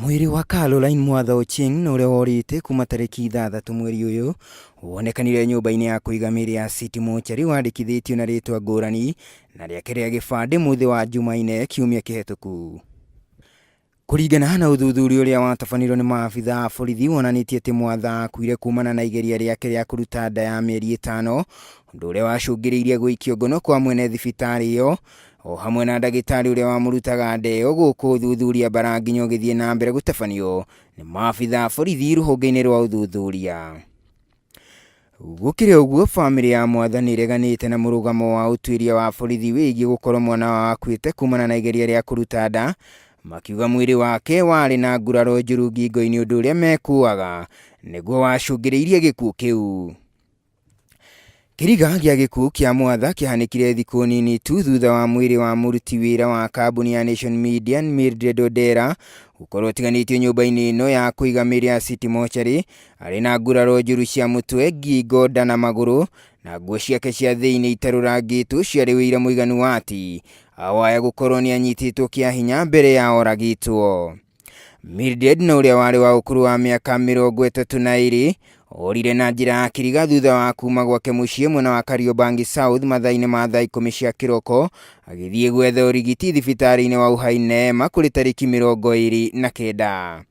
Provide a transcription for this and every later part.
Mwĩrĩ wa Caroline Mwatha Ochieng na ũrĩa worĩte kuma tarĩki ithathatũ mweri ũyũ wonekanire nyũmba-inĩ ya kũiga mĩĩrĩ ya City Mortuary wandĩkithĩtio na rĩtwa ngũrani na rĩake rĩa gĩbandĩ mũthĩ wa Jumaine kiumia kĩhetũku. Kũringana na ũthuthuria ũrĩa watabanirwo nĩ maabitha a borithi wonanĩtie atĩ Mwatha akuire kumana na igeria rĩake rĩa kũruta nda ya mĩeri ĩtano, ũndũ ũrĩa wacũngĩrĩirie gũikio ngono kwa mwene thibitarĩ ĩyo o hamwe na ndagĩtarĩ ũrĩa wamũrutaga ndeo gũkũ ũthuthuria bara nginya ũgĩthiĩ na mbere gũtabanio nĩ maabitha borithi rũhonge-inĩ rwa ũthuthuria gũkĩrĩ ũguo bamĩrĩ ya mwatha nĩ ĩreganĩte na mũrũgamo wa ũtuĩria wa borithi wĩgiĩ gũkorwo mwana wao akuĩte kumana na igeria rĩa kũruta nda makiuga mwĩrĩ wake warĩ na nguraro njũru ngingo-inĩ ũndũ ũrĩa mekuaga nĩguo wacũngĩrĩirie gĩkuũ kĩu Kĩriga gĩa gĩkuũ kĩa mwatha kĩahanĩkire thikũ nini tu thutha wa mwĩrĩ wa mũruti wĩra wa kambuni ya Nation Media Mildred Odera gũkorwo ũtiganĩtio nyũmba-inĩ ĩno ya kũiga mĩrĩ ya City Mortuary arĩ na nguraro njũru cia mũtwe, ngingo, nda na magũrũ na nguo ciake cia thĩinĩ itarũrangĩtwo ciarĩ ũira mũiganu wa atĩ awaya gũkorwo nĩ anyitĩtwo kĩa hinya mbere ya oragĩtwo. Mildred na ũrĩa warĩ wa ũkũrũ wa mĩaka mĩrongo ĩtatũ na ĩrĩ orire na njĩra ya kiriga thutha wa kuma gwake mũciĩ mwena wa Kariobangi South mathaa-inĩ ma thaa ikũmi cia kĩroko agĩthiĩ gwetha ũrigiti thibitarĩ-inĩ wa Uhai Neema kũrĩ tarĩki mĩrongo ĩrĩ na kenda.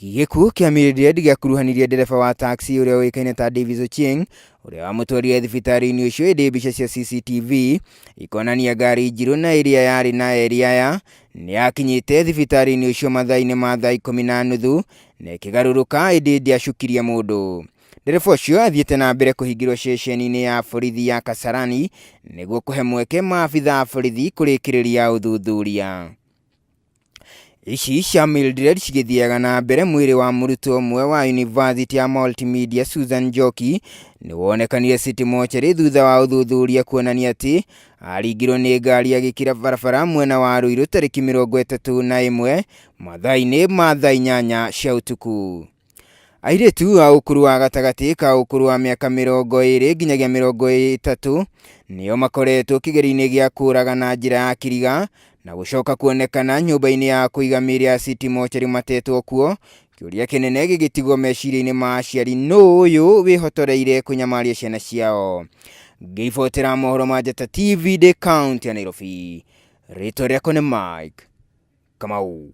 Gĩkuũ kĩa Mildred gĩakuruhanirie ndereba wa taxi ũrĩa ũĩkaine ta Davis Ochieng ũrĩa wamũtwarire thibitarĩ-inĩ ũcio ĩndĩ mbica cia CCTV ikonania ngari njirũ na ĩrĩa yarĩ na eri aya Nĩakinyĩte thibitarĩ-inĩ ũcio mathaa-inĩ ma thaa ikũmi na nuthu na ĩkĩgarũrũka ĩndĩ ndiacukirie mũndũ. Ndereba ũcio athiĩte na mbere kũhingĩrwo ceceni-inĩ ya borithi ya Kasarani nĩguo kũhe mweke maabitha a borithi kũrĩkĩrĩria ũthuthuria. Ici cia Mildred cigĩthiaga na mbere mwĩrĩ wa mũrutwo ũmwe wa yunivasĩtĩ ya Multimedia Susan Njoki nĩwonekanire City Mortuary thutha wa ũthuthuria kuonania atĩ aringirwo nĩ ngari agĩkira barabara mwena wa Ruiru tarĩki mĩrongo ĩtatũ na ĩmwe mathaa-inĩ ma thaa inyanya cia ũtukũ. Airĩtu a ũkũrũ wa gatagatĩ ka ũkũrũ wa mĩaka mĩrongo ĩrĩ nginyagia mĩrongo ĩtatũ nĩo makoretwo kĩgerio-inĩ gĩa kũũraga na njĩra ya kiriga na gũcoka kuonekana nyũmba-inĩ ya kũiga mĩĩrĩ ya City Mortuary matetwo kuo Kĩũria kĩnene gĩgĩtigwo meciria-inĩ ma aciari nũ ũyũ wĩhotoreire kũnyamaria ciana ciao. Ngĩibotera mohoro ma Njata TV ndĩ kaunti ya Nairobi. Rĩtwa rĩakwa nĩ Mike Kamau.